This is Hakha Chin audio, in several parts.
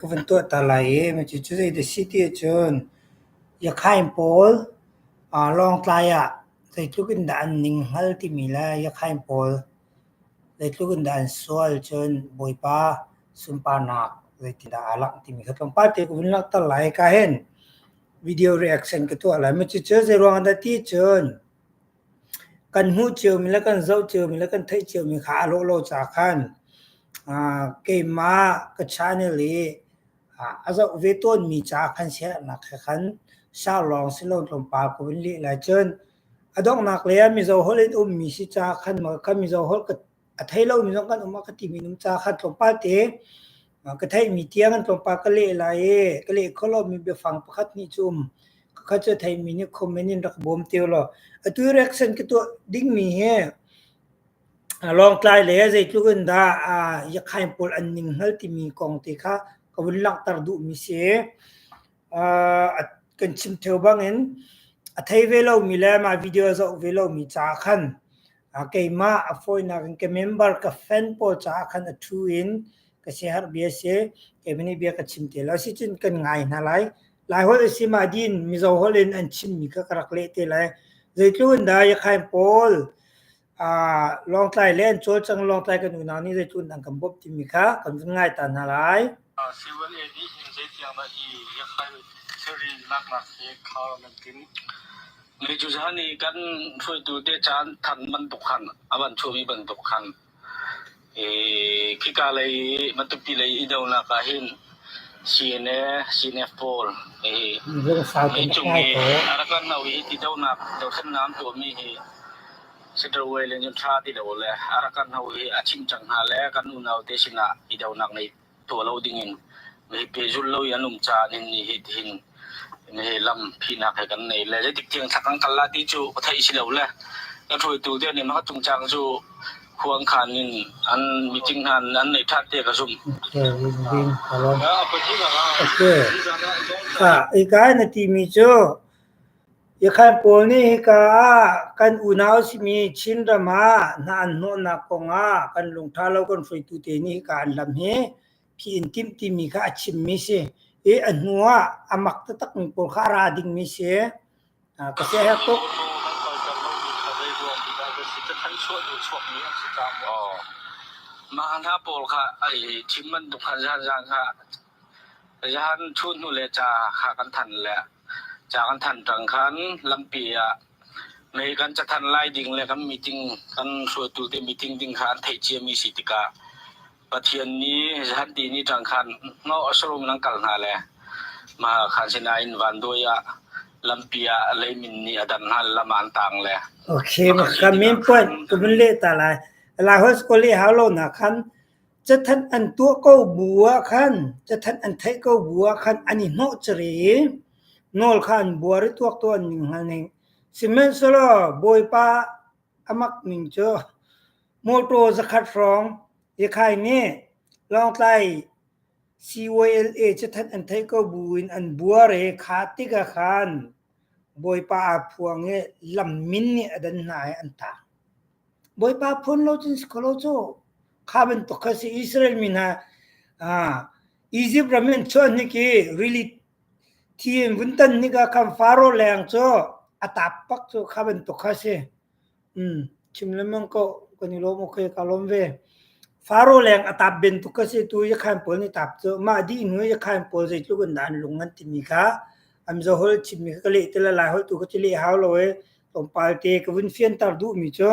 ka van tuah ta lai i cucu zeidah a si ti ahcun Yakhain pawl aa Lawngtlai ah zeitluk in dah an ninghngal timi le Yakhain pawl zeitluk in dah an sual cun Bawipa sunparnak zeitindah aa langh timi kha tlawmpal te ka vun langhter lai hika hin video reaction ka tuah lai. Cucu zeiruangah dah ti cun kan hmuh ciomi le kan zoh ciomi le kan theih ciomi kha a lawlaw ca khan uh, keimah ka channel i uh, a zoh ve tawnmi ca khan siaherhnak he khan sau lawng si lo tlawmpal ko in lih lai cun a donghnak le ah mizo holh in ummi si ca khan maw kan mizo holh ka a thei lomi zong kan um ah ka ti mi nung ca kha tlawmpal te ka theih mi tiang an tlawmpal ka leh lai i ka leh kho lo mi biafang pakhat nih cum ka kha cu thei mi nih comment in rak bawm te lo atu reaction ka tuah ding mi hi long tlai le zei tluk in dah yakhain pol an ning hngal ti mi kong te kha ka vun langhter duh mi si kan chim theo bangin a thei ve lomi le mah video a zoh ve lomi caah khan keimah a fawinak in ka member ka fan pawl caah khan a thu in ka siaherh bia si keimah nih bia ka chim te lo sicun kan ngai hna lai lai holh si ma din mizo holh in an chimmi ka rak leh te lai zeitluk in dah yakhain paul Lawngtlai le an cawlcang Lawngtlai kan unau nih zeitluan an kan bawmh timi kha kan vun ngai ta hna lai. Civil Aid nih hin zeitiang dah hi yakhlai thilri laklak hi khar nan tin? Ni cu zan i kan hruaitu te caan than bantuk khan a van chuahmi bantuk khan Khika lei i Matupi lei i donak ahhin CNF pawl innchung i a rak kan hno i ti donak dothlennaam tuahmi hi Saturday le Ṭha ti lo le a rak kan hno i a chimh cang hna le kan unau te sinah i donak ngei tuah lo dingin mipi zulh lo i an um caah nin ni hi tihin hi lam phinak he kan nei le zeitik tiang thak kan kal la ti cu ka theih si lo le ka hruaitu te nih maka cung cang cu huang khan in an meeting han an nei that te ka zum okay ah ikai na ti mi cu Ikhan pawl nih hika ah kan unau simi Chinram ah hna an hnawhnak kong ah kan lungṭha lo kan hruaitute nih hika an hlam hi phi in timh timi kha a chimmi si i a hnu ah a mak taktakmi pawl kha a ra dingmi si. Ka siaherh tuk. Mah hna pawl kha ai thim bantuk khan zaan zaan kha Zan thut hnu le ca kha kan than le ca kan than ṭang khan lampi ah mei kan cathan lai ding le kan meeting kan hruaitu te meeting ding kha an theih ciami si tikah Pathian nih zanti ni ṭang khan ngaw a sarum in an kal hna le mahah khan sinain vanduai ah lampi ah leimin nih a dam hna lam ah an tang le Okay, maka min point kumin leh ta lai. Lai hawi school i hau lo na khan Cathat an tuah ko bu ah khan cathat an theih ko bu ah khan an i hnawhcer i nawl kha an buar i tuaktuah ning hngal ning. Sihmanhsehlaw Bawipa a mak ning cu mawṭaw zakhat hrawng Ikhai nih Lawngtlai CYLA cathat an theih ko bu in an buar i kha tikah khan Bawipa aa phuang i lam min nih a dan hna i an tang. Bawipa phun lo cun si kho lo cu. Kha bantuk kha si Israel mi hna Egypt ram in chuan hnik i rili thi in vun tan hnik ah khan Faro leng cu a tap pak cu kha bantuk kha si. Mm, chim lemang ko kan i lawm okay ka lawm ve. Faro leng a tap ben tuk ka si tu i khan pawl ni tap cu ma di nu i khan pawl zeitluk in dan lung an timi kha am zo hol chim mi ka le tila lai hol tu ka ti le hau lo e tlawmpal te ka vun fianter duhmi cu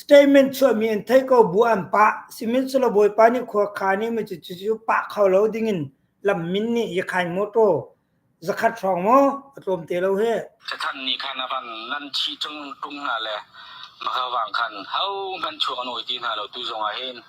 statement chuahmi an thei ko bu an pa simin sula bawipa nih khua kha ni ma cu cu pa kho lo dingin lam min ni i khain motor zakhat hrong mo atlom te lo he thathan ni khan avan nan chi chung tung na le maka wang khan hau man chuang noi ti na lo tu zong a hin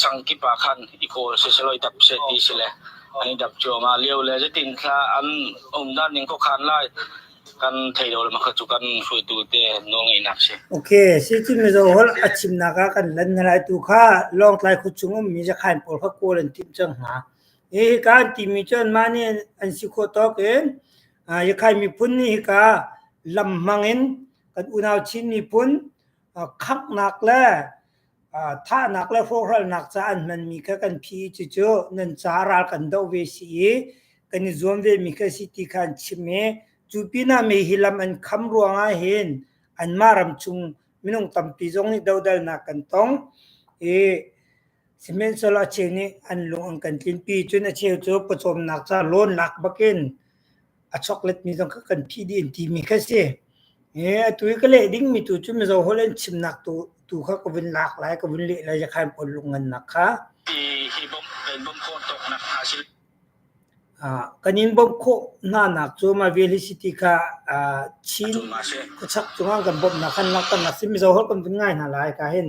Sangkip ah khan i kawl siselawi dap seh ti si le an i dap cuahmah lio le zeitin hla an um dan ning khuakhan lai kan thei lo le mah kha cu kan hruaitu te nawlngeihnak si. Ok, sicun mizaw holh a chimnak ah kan lan hna lai tu kha Lawngtlai khua chung um mi zakhain pawl kha kawl an timh cang hna. Hi hika an timi cu anmah nih an si khawh tawk in Yakhai miphun nih hika lam hmang in kan unau Chin miphun khaknak le thahnak le hrawhralnak ca an hmanmi kha kan phi i cucu nan caah ral kan doh ve si i kan i zuam vemi ka si ti kha an chim i cu pinah mei hi lam an kham ruangah hin anmah ram chung minung tampi zong nih dodalnak kan tong i sihmanhsehlaw a cheu nih an lung an kan tlinpi cun a cheu cu pawcawmnak ca loan lak bakin a choklet mi zong kha kan phih dih an timi kha si. Ee, atu hi ka leh dingmi tu cu Mizo holh an chimnak tu tu kha ka vun lak lai, ka vun leh lai jakhan pon lung ngannak kha. Hi hi bom kan bom ko tok nak ha si. Uh, kan in bom kho hna nak cu ma veli city kha uh, Chin khuchak cunga kan bom nak kan nak kan nak si Mizo holh kan vun ngai hna lai ka hin.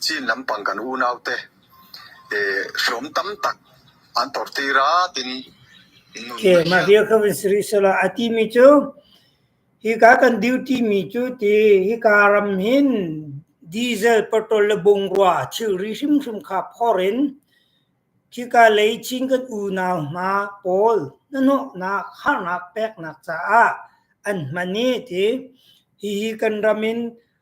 Chin lampang kan unaute hrawm tam tak an tortir a tin nun okay, mah hi kha vun si rih sela a ti mi cu hi ka kan duty mi cu ti hi ka ram hin diesel petrol le bungrua chil ri hrim hrim kha phor in khika lei chin kan unau hna pawl nanawhnak harnak peknak caah an hman i ti hihi kan ram in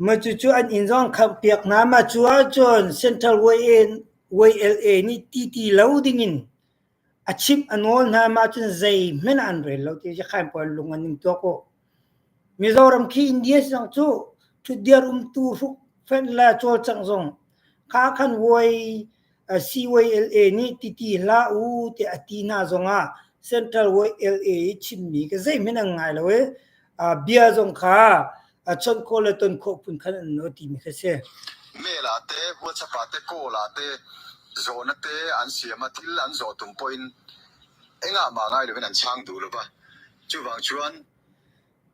Macucu an inn zong khamhpiak hna ma cu ahcun Central YLA nih ti ti lo dingin a chimh a nawl hna ma ahcun zeihmanh ah an rel lo ti Yakhain puai an lung an ing tuak uh. Mizoram khi India zong cu ṭhutdir umtu hruk fenh le cawlcangh zong kha khan Vuai CYLA nih titi hlah u tiah a ti hna zongah Central YLA i chimmi ka zeihmanh an ngai lo i bia zong kha chawnh khawh le ton khawh phun khan an no timi kha si. Mela te, WhatsApp te, Kawl te, zawn te an siam a thil an zawh tum pawhin engah mah ngai loin an chang duh lo ba. Chuvang chuan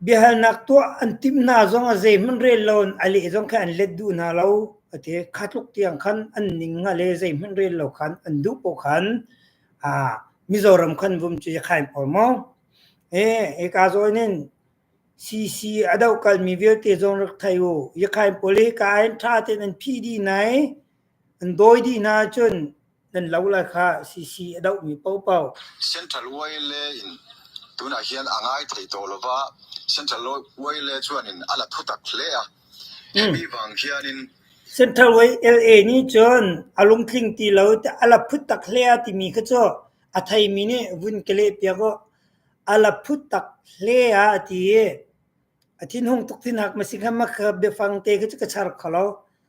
Biahalnak tuah an timh hna zong ah zeihmanh rel lo in a leh zong kha an let duh hna lo, a ti. Kha tluk tiang khan an ning nga le zeihmanh rel lo khan an duh poh khan aa Mizoram khan vum cu i khaim ko maw. Ee, hika zawn in CC a doh kalmi vialte zong rak thei u. I khaim pawl hi ka ain ṭha tein an phih dih nai. An dawi dih hna cun nan lo la kha sisi a dohmi popo. Central Way le in tunah hian a ngai thei tawh lova, Central Way le chuan in ala thutak hle a. Hemi vang hianin Central Way LA nih cun a lungtling ti lo te ala phut tak hle a timi kha cu a theimi nih vun ka leh piak u. Ala phut tak hle a ti i a thinhung tuk thinhak ma si kha ma ka biafang te kha cu ka char kho lo.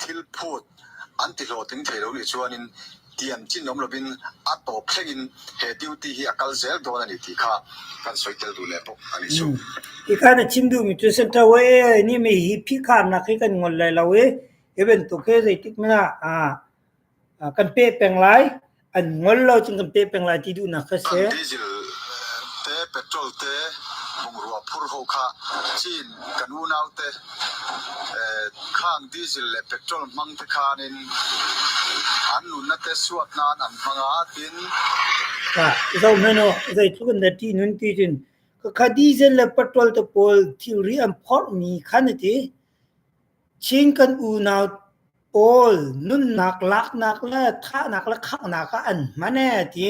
thil phut an ti hlawhtling thei lo nih cun in tiam chin um loin a tawp thleng in he duty hi a kal zel dawn ani ti kha kan soi tel tu le pok ani su i kan a chim duhmi cu center way ni mi hi phi khamnak hi kan ngol lai lo i even tu ke zeitik na ah kan peh peng lai an ngol lo cun kan peh peng lai ti duhnak kha si. Kan diesel te petrol te bungrua phur ho kha Chin kan unau te khang diesel le petrol hmang te khan in an nunna te suat nan an hmanga tin ka zo meno zai thu kan da ti nun ti tin ka kha diesel le petrol te pawl thilri an phor mi khan ti Chin kan unau pawl nunnak laknak le thahnak le khanghnak ah an hman ee a ti.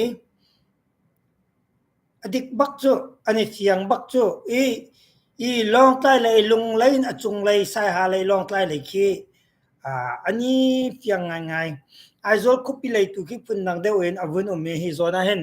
A dik bak cu, an i fiang bak cu. I, i Lawngtlai lei Lunglei in a cunglei Saiha lei Lawngtlai lei khi aa an i fiang ngaingai. Aizawl khuapi lei tu khi phundang deuh in a vun um i hi zawn ah hin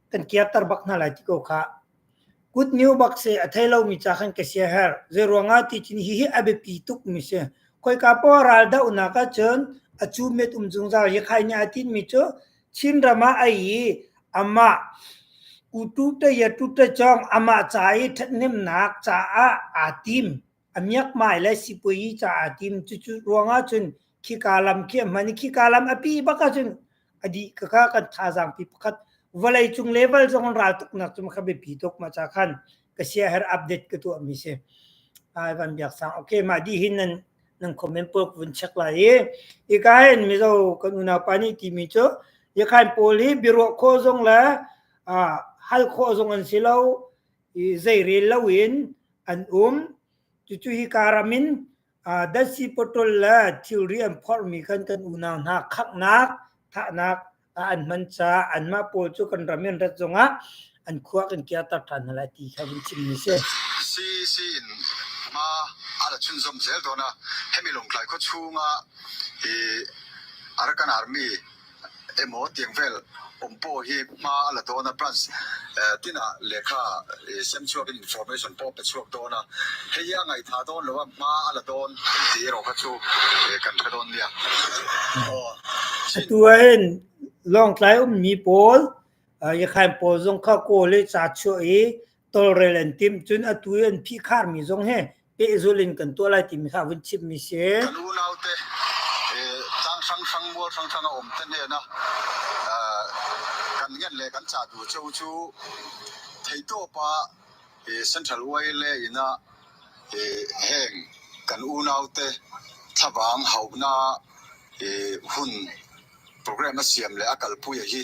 kan kiatter bak hna lai ti ko kha good news bak se a thei lomi ca khan ka sia her zei ruangah ti tin hi hi a biapi tuk mi si koi ka po ral da una ka chun a chu met um zung zar hi khai nya tin mi chu chin rama ai ama utu te ya tu te chong ama cha i that nim nak cha a a tim A miakmai le sipuazi caah tim. Cucu ruangah cun khika lam khi a hman i khika lam a pi bak ahcun a dih ka kha kan thazaang pi pakhat vawleicung level zong an ral tuknak cu kha biapi tuk ma ca khan ka siaherh update ka tuahmi si. Ai Van Biak Sang. Okay, mah dih hin nan nan comment pawk vun check lai i hika hin mizo kan unaupa nih timi cu yakhain pawl hi biaruah khawh zong le ah hal khawh zong an si lo zeirel loin an um. Cucu hika ram in uh, datsi potol le thilri an phorhmi khan kan unau hna khaknak, thahnak uh, an hman caah anmah pawl cu kan ram in rat zongah an khuak in kiatar ṭhan hna lai ti kha vun chim ni si. Si si in ma ala chun zom zel dona hemi longtlai kho chunga i arakan army emaw tiang vel um paw hi hma a la tawn a branch tinah lehkha semchuak in information paw pe chuak dawn a hei a ngai tha dawn lo a hma a la tawn kan ti erawh kha chu kan hre dawn nia atu hen lawngtlai um mi pawl yakhain pawl zong kha kaw le cha chuah i tawlrel an timh cun atu i an phihkhar mi zong he pehzul in kan tuah lai timi kha vun chimmi si. Kan unaute tang hrang hrang mual hrang hrang a um ten he na kan ngen le kan cha tu cheu chu theito pa central way le ina heng kan unaute thabang hauna hun program a siam le a kalpui hi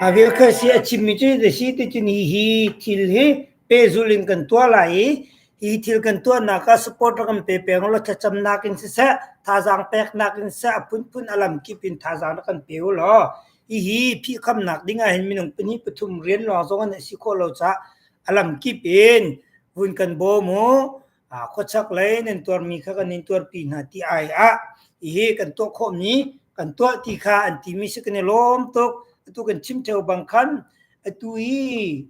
A vilkhuahsi a chimmi cu hi si ticun hi hi thil hi pehzulh in kan tuah lai i hi thil kan tuahnak ah support ram pe peng law thlacamnak in siseh thazaang peknak in siseh a phunphun a lamkip in thazaang na kan pe u law hihi phihkhamnak ding ah hin minung pahnih pathum rian lawng zong an si khawh lo caah a lamkip in vun kan bawm u khuachak lei nan tuarmi kha kan in tuarpi hna ti ai ah hi kan tuah khawhmi kan tuah ti kha an timi si kan i lawm tuk atu kan chim theo bang khan atu hi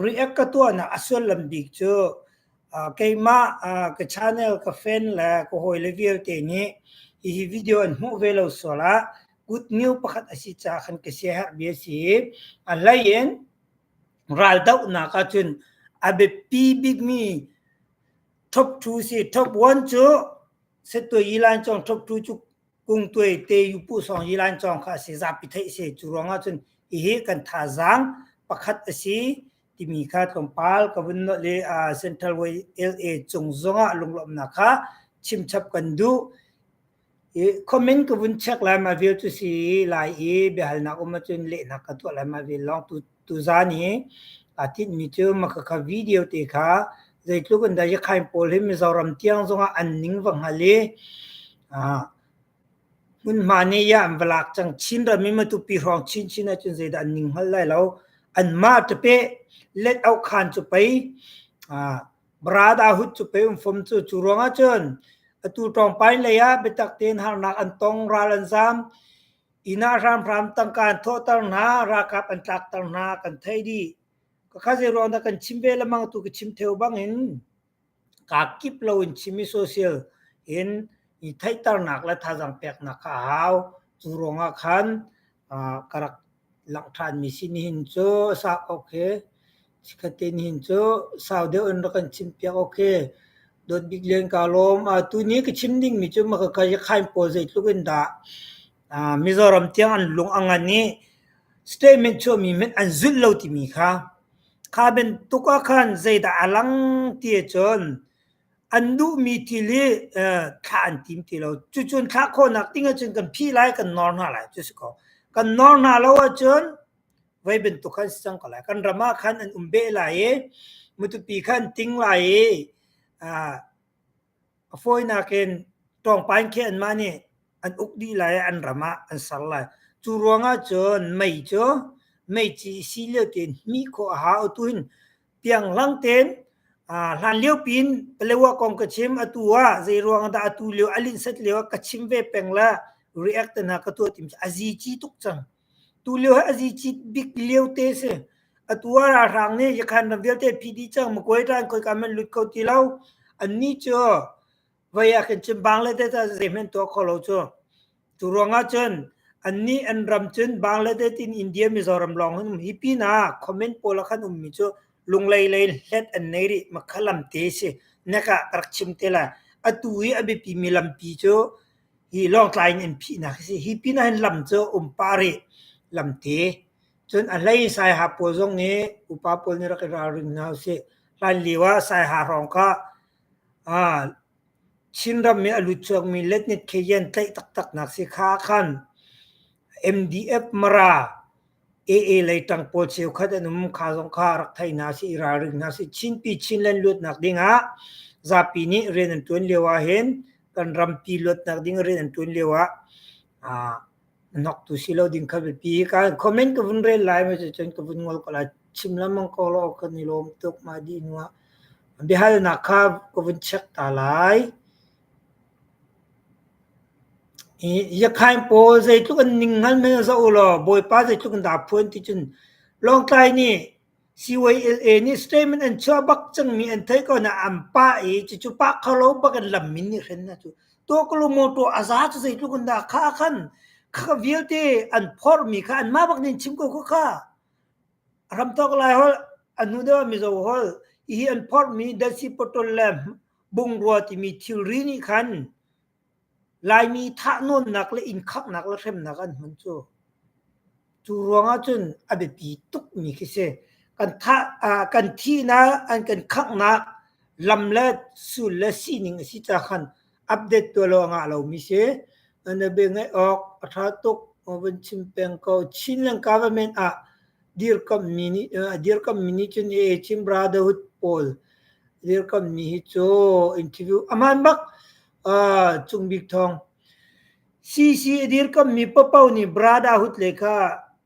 react ka tuah na asual lam bik cu keimah ka channel ka fan le ka hawi le vialte nih hihi video an hmuh ve lo sual ah good news pakhat asi ca khan ka si har bia si a lain raldohnak ahcun a biapi bikmi top two si top one cu settuai ilan cong top two cu kungtuai te yupu song ilan cong kha a si zapi theih si cu ruang ahcun hihi kan thazaang pakhat a si timi kha tlawmpal ka vun no le Central way LA cung zongah lunglawmhnak kha chimchap kan duh Comment ka vun check lai ma vel cu si i Lai i biahalnak um ahcun lehnak ka tuah lai ma vel lawng. Tu, tuzan hi aa tinhmi cu Makakha video te kha zeitluk in dah Yakhain pawl hi Mizoram tiang zongah an ning va hngal i aa hmunhma nih ya an va lak cang. Chin ram i Matupi hrawng chinchin ahcun zeidah an ning hngal lai lo. Anmah ṭapeh let auh khan cu pei aa Brada hut cu pe um fom cu cu ruangah cun atu ṭong pain lei ah biatak tein harnak an tong ral an zaam innah hramhram tangka an thawhter hna ralkap an tlakter hna kan thei dih ka kha zei ruang dah kan chim ve lemang tu ka chim theo bangin ka kip lo in chim i social in i theihternak le thazang peknak kha a hau cu ruangah khan ka rak langh ṭhan mi si nihin cu a sah ok hi Sakhatin hin cu sau deuh in rak kan chim piak awk hi dawt bik len kaa lawm. Aa tuni ka chim dingmi cu Makakay-Hakhain pawl zeitluk in dah aa Mizoram tiang an lung a ngan i statement chuahmi hmanh an zulh lo timi kha kha bantuk ah khan zeidah a lang ti ahcun an duhmi thil hi eh, thlah an tim ti lo. Cucun thlah khawhnak ding ahcun kan phih lai, kan nawr hna lai cu si ko. Kan nawr hna lo ahcun Voi bantuk khan sang ko lai. Kan ram ah khan an um beh lai i mutupi khan ting lai i a fawinak in tawngpain khi anmah nih an uk dih lai i an ram ah an ser lai. Cu ruangah cun mei cu meici si lio tein hmi khawh a ha. Atu hin pianglang tein hlan lio pin Palewa kong ka chim atu ah zei ruang dah atu lio a linsat lio ah ka chim ve peng la react na ka tuah tim a zi ci tuk cang. Tulio hi a zicit bik liote a si. Atu ah ralhrang nih Yakhan ram vialte an phih dih cang. Magway Tribe khoika hmanh lut kho ti lo. Annih cu voi ah khin Chimbang le tete zeihmanh tuah kho lo cu. Cu ruangah cun annih an ram cun Bangladesh in India Mizoram lawng hin um hi pinah comment pawl ah khan ummi cu Lunglei lei hlet an nei rih. Makha lamte a si. Hnek ah ka rak chim te lai. Atu i a biapimi lampi cu Hi Lawngtlai in an phihnak a si. Hi pin ah hin lam cu a um pah rih, lamti. Cun a hlei in Saiha pawl zong hi upa pawl nih rak i ralring hna usih. Hlan lio ah Saiha hrawng kha aa Chinram i a lut chuakmi Letnit Kheyen tlaih taktaknak si kha khan MDF Mara AA lei ṭang pawl cheukhat an um. Kha zong kha rak thei hna sih, i ralring hna sih. Chinpi Chinland luatnak ding ah zapi nih rian an ṭuan lio ahhin kan rampi luatnak ding rian an ṭuan lio ah aa hnoktu si lo ding kha biapi. Ka comment ka vun rel lai, maw cun ka vun ngol ko lai. Chim lengmang ko law kan i lawm tuk, mah dih nu ah. Biahalnak kha ka vun check ta lai. Iakhain pawl zeitluk an ning hngal men ah zoh ulaw Bawipa zeitluk in dah a phuan ti cun Lawngtlai nih CYLA nih statement an chuah bak cangmi an theih ko nain an pah i cucu pah kho lo bak in lam min nih hren a cuh. Tuaklu mawṭaw a za cu zeitluk in dah khah khan khah vialte an phorhmi kha anmah bak nih an chim ko khawh kha. A hramthawk Lai holh, a hnudeu Mizo holh, hihi an phorhmi Dasipotol le bungrua timi thilri nih khan Laimi thahnawnnak le inkhaknak le hremnak an hman cu. Cu ruangah cun a biapi tukmi khi si. Kan thah, uh, kan thihnak, an kan khanghnak lam le sul le sining a si ca khan update tua lo ngah lomi si nabe ngai awk a tha tuk van chim peng ko Chinland government ah dirkam mi ni dirkam mi ni chun e Chin Brotherhood pawl dirkam mi hi cho interview aman bak chung bik thong CC dirkam mi papau ni brotherhood lekha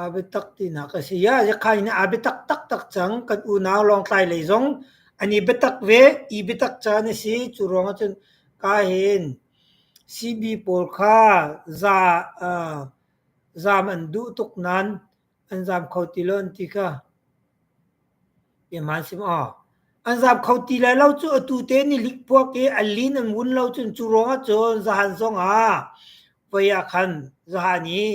A biatak tinak a si. Ia Hlekhai nih a biatak taktak cang. Kan unau Lawngtlai lei zong an i biatak ve. I biatak caan a si. Cu ruangah cun ka hen CB pawl kha za aa zam an duh tuk nain an zam kho ti lo an ti ka ihmaan si maw? An zam kho ti lai lo cu atu te nih likpuak i a lin an wun lo cun cu ruangah cun zahan zongah voi ah khan zahan i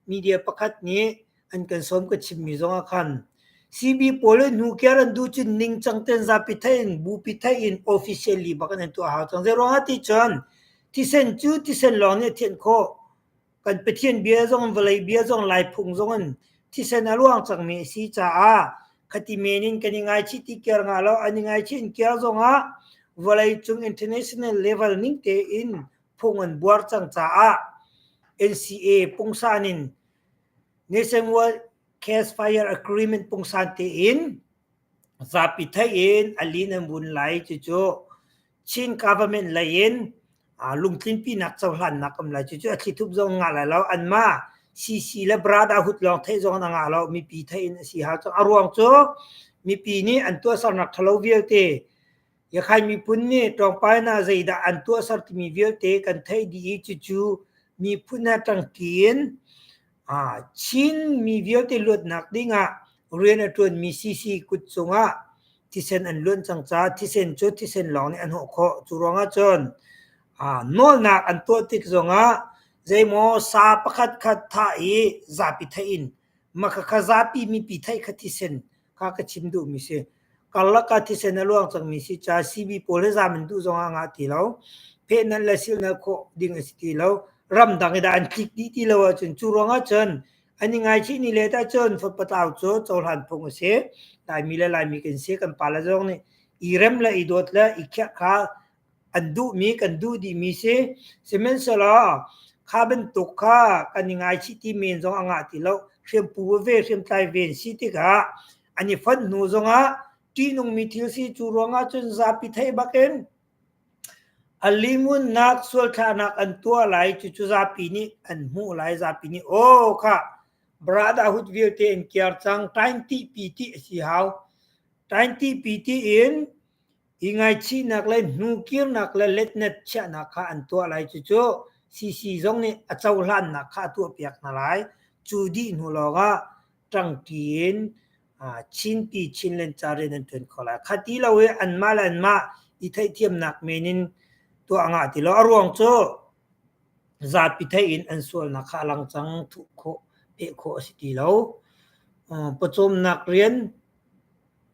media pakhat nih an kan sawm ka chimmi zong ah khan CB pawl le nu kiar an duh cun ningcang ten zapi thai in bupi thai in officially bak an tuah hau cang zei ruangah ti cun thisen cu thisen lawng nih thianh khawh kan pathian bia zong vawlei bia zong lai phung zong in thisen a luang cangmi a si caah khati men in kan i ngaichi ti kiar nga lo an i ngaichi in kiar zong ah vawlei cung international level ning tein phung an buar cang caah NCA pungsan in Nationwide Case Fire Agreement pungsan tein zapi thei in alin an vun lai cucu Chin government lei in lungtlin pinak cohlan nak am lai cucu a thlithup zong nga lai lo an ma CC le brada hut lawng theih zong an nga lo mipi thei in a si ha cu a ruang cu mipi nih an tuahsernak thalo vialte Yakhain miphun nih ṭawngpainak zeidah an tuahser timi vialte kan theih dih i cucu miphun he ṭangṭi in aa Chin mi vialte luatnak ding ah rian a ṭuanmi CC kut cungah thisen an luan cang caah thisen cu thisen lawng nih an hawh khawh. Cu ruangah cun aa nawlnak an tuah tik zongah zeimaw sa pakhat khat thah i zapi theih in makha kha zapi mipi theih kha thisen kha ka chim duhmi si. Karlak ah thisen a luang cangmi si ca CB pawl he zam in duh zong ah ngah ti lo. Pheh nan le sil nan khawh ding a si ti lo. Ramdang i dah an tlik dih ti lo ahcun cu ruang ahcun an i ngaichih ni let ahcun fatpatau cu cohlan phung a si. Laimi le Laimi kan si kan pale zong nih i rem le i dawt le i khiah kha an duhmi kan duh dihmi si. Sihmanhsehlaw kha bantuk kha kan i ngaichih ti men zong a ngah ti lo. Hriampu veve, hriamtlai ve an si tikah an i fonh hnu zongah ṭihnungmi thil si cu ruangah cun zapi theih bakin a limunnak sualthlahnak an tuah lai cucu zapi nih an hmuh lai zapi nih aw kha brada hut vialte an kiar cang tain ti pi ti a si hau tain ti pi ti in i ngaichihnak le hnukirnak le letnet chiahnak kha an tuah lai cucu sisi zong nih a cohlannak kha a tuahpiak hna lai cu dih hnu lawngah ṭangṭi in chinpi chin len ca rian an ṭuan kho lai kha ti lo i anmah le anmah i theihthiamnak men in tuah ngah ti lo a ruang cu zapi thei in an sualnak kha a lang cang thuh khawh peh khawh a si ti lo pawcawmnak rian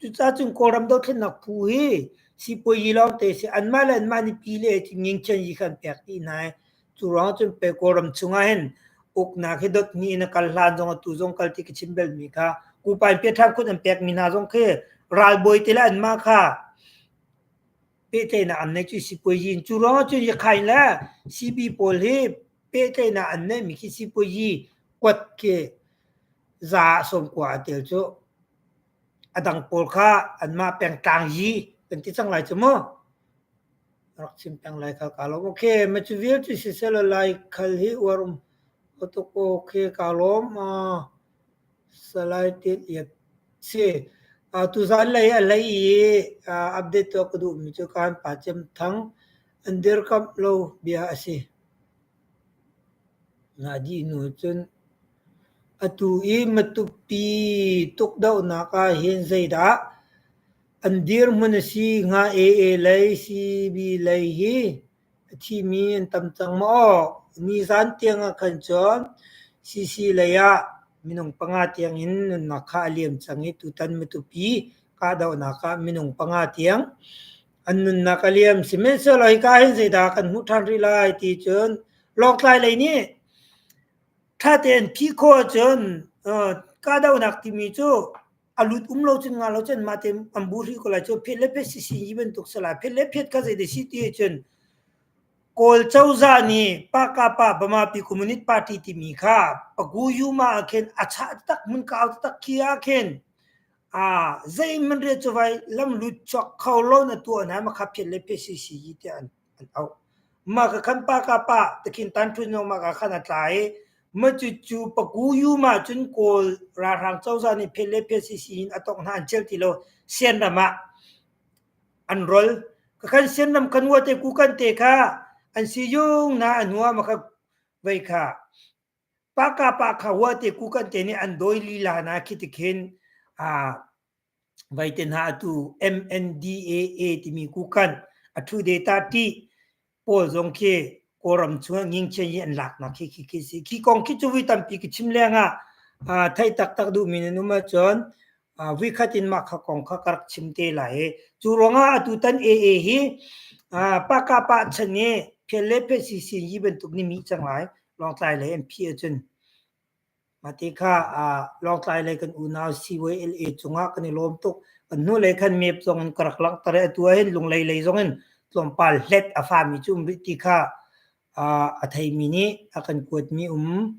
Cucacung Kawlram dothlennak phu hi sipuazi lawngte a si. Anmah le anmah nih pile a ti ngingkhian yi kha an pek dih hna i cu ruangah cun pe Kawlram chungah hin uknak hi dot hnih in a kal hlan zong atu zong kal ti ka chim belmi kha Kupa in Piaṭhang kut an pekmi hna zong khi ralbawi te le anmah kha pehtlaihnak an nei cu sipuazi in. Cu lawng cu Yakhain le CB pawl hi pehtlaihnak an neihmi khi sipuazi kuat khi za ah sawmkua a tel cu. A dang pawl kha anmah pengtlang yi kan ti cang lai cu mu. Rak chim peng lai khal ka lo. Okay, ma cu vial cu siselo lai khal hi uarum. Otoko ke ka lom. Uh, Salai Tit Lian si. Uh, tuzaan lei a lei i uh, update tuah ka duhmi cu kaan pa Cem Thang an dirkamh lo bia a si. Nga dih nu cun atu i matupi tukdohnak ah hin zeidah an dirhmun a si? Nga AA lei, CB lei hi A thimi an tam cang maw? Ni zan tiang ahkhan cun sisi lei ah minung panga tiang in nunnak kha a liam cang i tutan Matupi kahdohnak ah minung panga tiang an nunnak a liam. Sihmanhsehlaw hika hin zeidah kan hmuh ṭhan rih lai ti cun Lawngtlai lei nih ṭha tein phih khawh ahcun, aa, kahdohnak timi cu a lut um lo cun nga lo cun mah te an bu rih ko lai cu phet le phet si si yi bantuk sa lai phet le phet kha zei de si ti he cun kawl cozah nih paka pa bamapi communist party timi kha pagu yuma ah khin a cha tak mun ka au tak khi ah khin a zei man re chuvai lam lut chok kho lo na tu na ma kha phet le phet si si yi te an Mah ka khan pa ka pah ti khin tanṭhunung mah ka khan a tla i mah cucu Pagu-yum ahcun Kawl ralhrang cozah nih phet le phet sisi in a tongh hna an ṭial ti lo Sianram ah an rol. Ka khan Sianram kan ua te Kukan te kha an si zung hna a nuam a ka vei kha. Paka pa kha hua te kukan te nih an dawi lila na khi tikhin uh, vai te hna atu MNDAA timi kukan a thu data ti paul zong khi koram chuan nging chen hi an lak na khi khi khi si khi kong khi chu vi tampi ki chim lenga a thai tak tak du min anuma chon vuikhat in mah kha kong kha ka rak chim te lai i cu ruangah atu tan AA hi pakapah chan i phial le phial sisin yi bantuk ni mi cang lai longtlai lei an phi acun mati kha longtlai lei kan unau CYLA cungah kan i lawm tuk kan hnu lei khan mep zong in ka rak lang tare atu ahin lunglei lei zong in tlawmpal hlet a fami cu umri ti kha a theimi nih a kan kuatmi um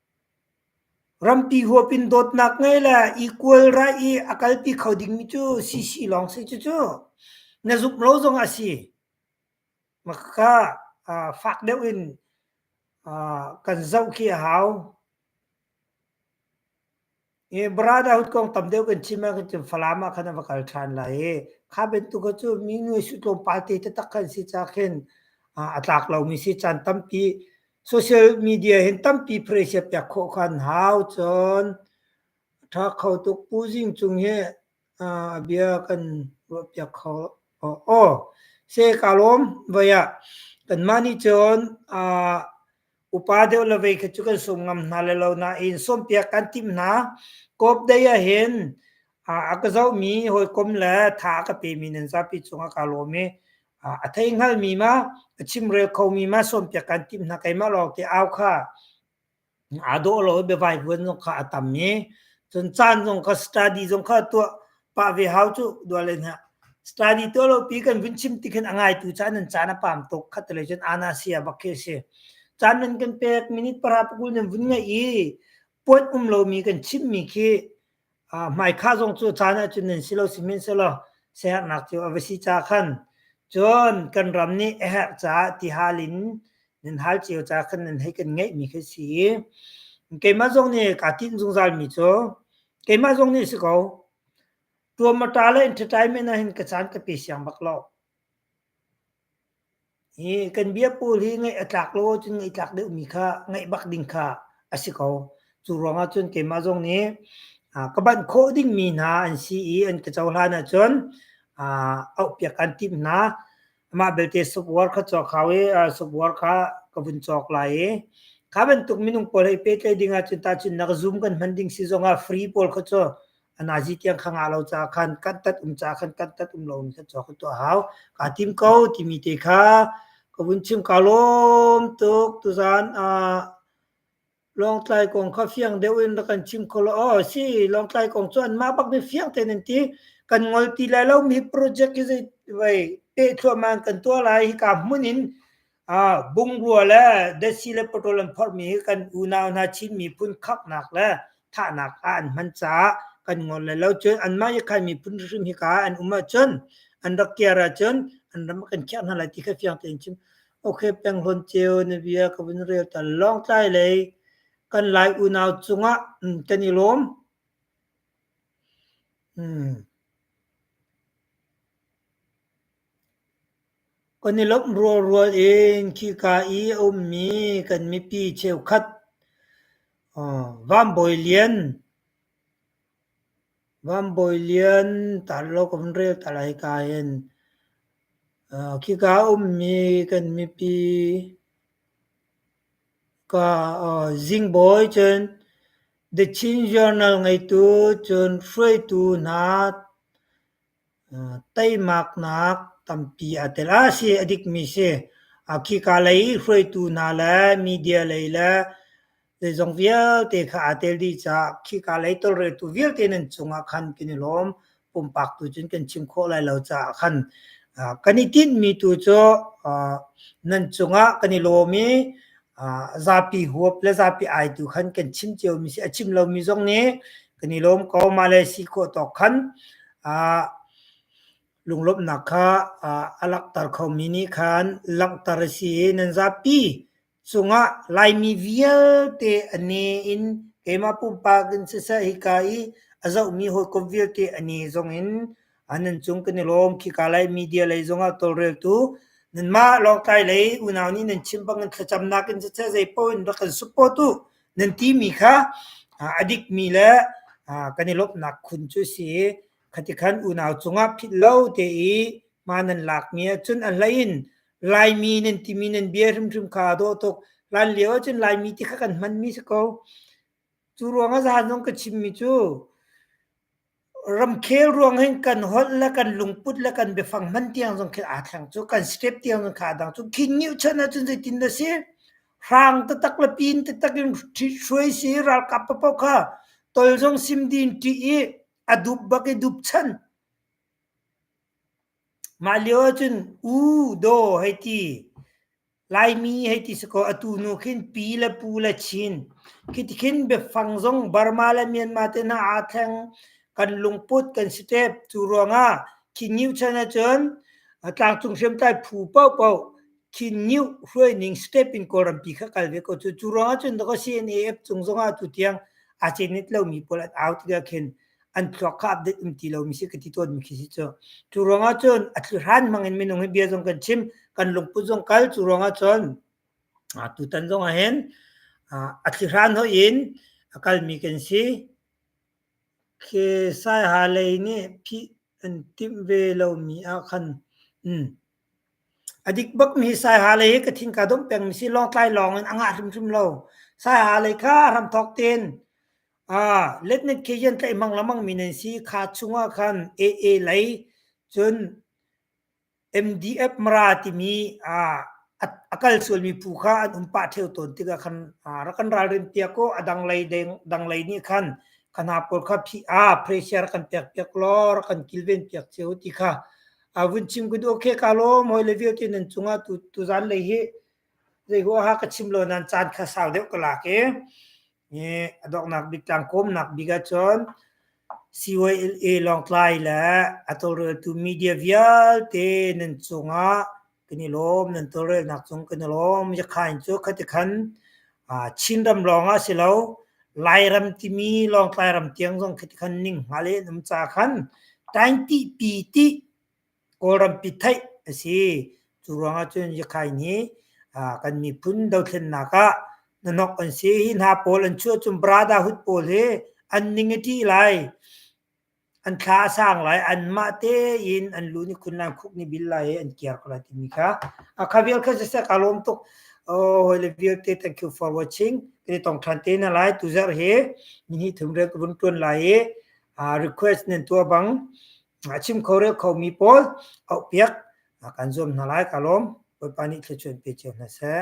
Rampi huapin dawtnak ngei le equal right i a kalpi kho dingmi cu CC lawng si. Cucu na zumh lo zong a si. Makha fak deuh in kan zoh khi a hau. i brotherhood kong tam deuh kan chim ah cun Falam ah khan a va kal ṭhan lai i kha bantuk cu minu i sutlung party taktak kan si ca khin a tlak lomi si caan tampi social media hin tampi presia piak khawh kan hau cun ṭha kho tuk pu zing cung hi bia kan ruah piak kho aw se ka lawm vaya kan mah nih cun upa deuh le vei kha cu kan sum ngam hna le lo nain sawmpiak kan timh hna kop dei ah hin a ka zoh mi hawikom le tha a ka pe mi nan zapi cung a ka lawm i a thei hngal mi ma a chimrel kho mi ma sawmpiak kan timh hna keimah lawng te au kha a dawh lo i biavai huan zong kha a tam mi cun caan zong kha study zong kha tuah pah ve hau cu dual le hna study to lo pi kan vun chim ti khin a ngai tu chan nan chan a pam tok khat le chen ana sia bak ke si chan nan kan pek minute para pukul nan vun ngai i pot um lo mi kan chim mi khi mai kha zong cu chan a chun nan silo simin selo ser nak chu avasi cha khan chon kan ram ni her cha ti halin nan hal chiu cha khan nan hei kan ngai mi khi si keima zong ni ka tin zungzal mi chu Keimah zong nih a si ko. Tuam a ṭa le entertainment ah hin ka caan ka pe siang bak lo. Hi kan biapul hi ngaih a tlak lo ahcun ngaih tlak deuhmi kha ngaih bak ding kha a si ko. Cu ruangah cun keimah zong nih aa ka banh khawh dingmi hna an si i an ka cohlan ahcun aa auhpiak kan timh hna. Amah belte subwar kha cawk hau i uh, subwar kha ka vun cawk lai i kha bantuk minung pawl hei petlai ding ah cun tahcun nak zoom kan hman ding si zong ah free pawl kha cu anazi tiang khanga lo ca khan kan tat um ca khan kan tat um lo mi kha cawk to hau ka tim ko timi te kha ka vun chim ka lom tuk tuzan uh, Lawngtlai kong kha fiang deuh in rak kan chim kho lo. Oh si, Lawngtlai kong cu anmah bak mi fiang tein an ti. Kan ngol ti lai lomi project hi vai peh thluahman kan tuah lai. Hika hmun in uh, bungrua le desi le patrol an phormi hi kan unau hna Chin miphun khaknak le thahnak ah an hman caah kan ngol lai lo. Cun anmah Yakhai miphun hrim hika an um ahcun an rak kiar ahcun an ram kan khiah hna lai ti kha fiang tein chim. Okay, Penghlawn Ceu na bia ka vun rel ta Lawngtlai lei kan lai unau cungah mm, kan i lawm. Hmm. Kan i lop rual rual in khi ka i ummi kan mipi cheu khat uh, Van Bawi Lian Van Bawi Lian tar law kan rel ta lai ka hin. Aa khika ummi kan mipi ka aa Zing Bawi cun The Chin Journal ngeitu cun hruaitu hna Teimaknak tampi a tel. A si, a dikmi si. Khika lei hruaitu hna le media lei le zeizong vialte kha aa tel dih caah khika lei tawlreltu vialte nan cungah khan kan i lawm. Pumpak tu cun kan chim khawh lai lo caah khan. Kan i tinhmi tu cu nan cungah kan i lawm i zapi huap le zapi ai tu khan kan chim cio mi si. A chim lomi zong nih kan i lawm ko. Mahle si khawh tawk khan ah lunglawmhnak kha ah a langhter khomi nih khan langhter a si i nan zapi cungah Laimi vialte a ne in keimah pumpak in siseh hika i a zohmi hawikom vialte a ne zong in an nan cung kan i lawm khika lei media lei zongah tawlreltu nanmah lawngtlai lei unau nih nan chim bang nan thlacam nakin cacah zeipaoh in rak kan support u nan timi kha adik mi le kan i lawmhnak khun cu si khati khan unau cungah phit lo te i ma nan lak mi cun an lain laimi nan timi nan bia hrimhrim kha daw tuk lan lio cun laimi ti kha kan hman mi si ko cu ruang a zan zong ka chim mi cu Ramkhel ruang hin kan holh le kan lungput le kan biafang hman tiang zong khi aa thleng cu. Kan step tiang zong khi aa dang cu. Khingiuh chan ahcun zeitin dah si? Hrang tatak le pin tatak in hruai si, ralkap paoh kha tol zong sim ding ṭih i a dup bak i dup chan. Mah lio ahcun u, daw hei ti. Laimi hei ti si kaw atu nu khin pi le pu le Chin khiti khin biafang zong Burma le Myanmar te hna aa thleng kan lungput kan si tep. Cu ruangah Khinnew chan ahcun tlangcung hriamtlai phu paohpaoh Khinnew hruaining step in Kawlrampi kha kal ve ko cu. Cu ruangah cun ka CNAF cung zongah atu tiang aa cenit lomi pawl an au tikah khin an thluak kha update um ti lomi si ka ti tawnmi khi si cu cu ruangah cun a thli hran mangin minung hi bia zong kan chim kan lungput zong kal cu ruangah cun tutan zong ah hin a thli hran ho in a kalmi kan si khi sai ha lei nih phi an tim ve lomi ah khan a dik bakmi sai ha lei hi ka thin ka dom pengmi si long tlai long in a ngah hrimhrim lo sai ha lei kha ram thok tin Ah, letnet khi hian tlaih mang lamang mi nan si. Kha chungah khan AA lei cun MDF Mara timi ah a kal sualmi phu kha an um pah theo tawn tikah khan rak kan ralrin piak ko a dang lei dang lei nih khan kan ha pawl kha phi a pressure kan pek piak lo rak kan kilven piak cheu ti kha a vun chim gudu okay ka lo moi le viu ti nan chunga tu tu zan lei hi zei ho ha ka chim lo nan chan kha sau deuh ka la ke Nge a donghnak bik tlang kawmnak bik ahcun CYLA Lawngtlai le a tawlreltu media vialte nan cungah kan i lawm nan tawlrelnak cung kan i lawm yakhain cu khati khan Chinram lawngah si lo Lairam timi Lawngtlai ram tiang zong khati khan ning hnga le nam ca khan တိုင်းတိပီတိ Kawlrampi theih a si. Cu ruangah cun Yakhai nih kan miphun dothlennak ah hnahnok an si. Hi hna pawl an chuah cun brotherhood pawl hi an ning a ṭih lai. An thla a sang lai. Anmah tein an lu nih khunlan khuk nih bil lai i an kiar ko lai timi kha a kha vial kha siseh kaa lawm tuk. Hawile vialte thank you for watching. Kan i tong ṭhan te hna lai. Tuzarh hi ni hnih thum rel ka vun ṭuan lai i request nan tuah bang a chim kho rel khomi pawl auhpiak kan zuam hna lai ka lawm Bawipa nih thluachuan pe cio hna seh.